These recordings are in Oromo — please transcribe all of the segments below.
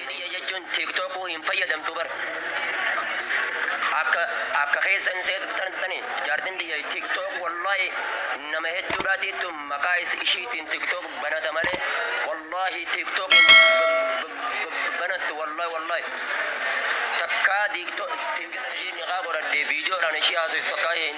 Tiyya jechuun tiktokuu hin fayyadamtu bar akka akka keessa hin seetu tartani jaartin tiyya tiktok wallahi nama hedduudhaa tiittu maqaa is ishiitiin tiktok banata malee wallahi tiktok hin banattu wallahi wallahi takkaa tiktok ishiin niqaa godhadhe viidiyoodhaan ishii haasoftu takkaa hin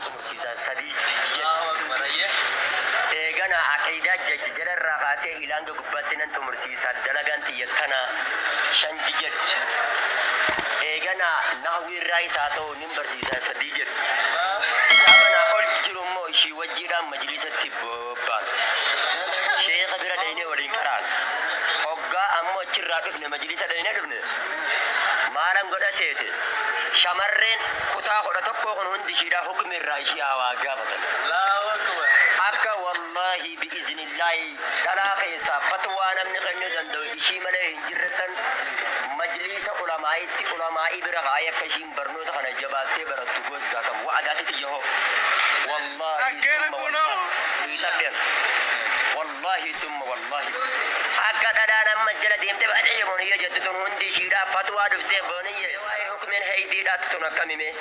horsiisan sadii jedhe. Eeganaa aqiidaa jajja jala irraa kaasee ila hanga gubbaatti nan xumursiisa. Dalagaan tiyya tana shan jedhe. Eeganaa nahwii irraayis haa ta'u nin barsiisa sadii jedhe. Kitaaba naa ol jiru immoo ishii wajjiidhaan majliisatti. bobbaanu. Sheekha bira dhaynee waliin qaraana. Hoggaa ammoo achirraa dhufne majliisa dhaynee dhufne maalan godha seete shamarreen kutaa 11 kun hundi ishiidhaa hukmi irraa ishii haa waa gaafatan. Akka wallaahi bi'iznillaahi dhalaa keessaa fatwaa namni kennuu danda'u ishii malee hin jirrettan majliisa ulamaa'iitti ulamaa'ii bira kaa'ee akka ishiin Barnoota kana jabaattee barattu gosa kam? Wa'adaa titi yahoo. Wallaahi Dhaggeera summa kunoo. wallaahi. Hin dhabdeen. Wallaahi summa wallaahi. Akka dhadhaan amma jala deemte baadhee boniyye jettu tun hundi ishiidhaa fatwaa dhuftee boniyye waa'ee hukmiin heydii dhaattu tun akkami mee?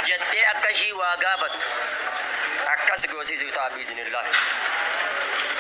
jettee akka ishii waa gaafattu akkas goosisuu ta'a biiznillaahi.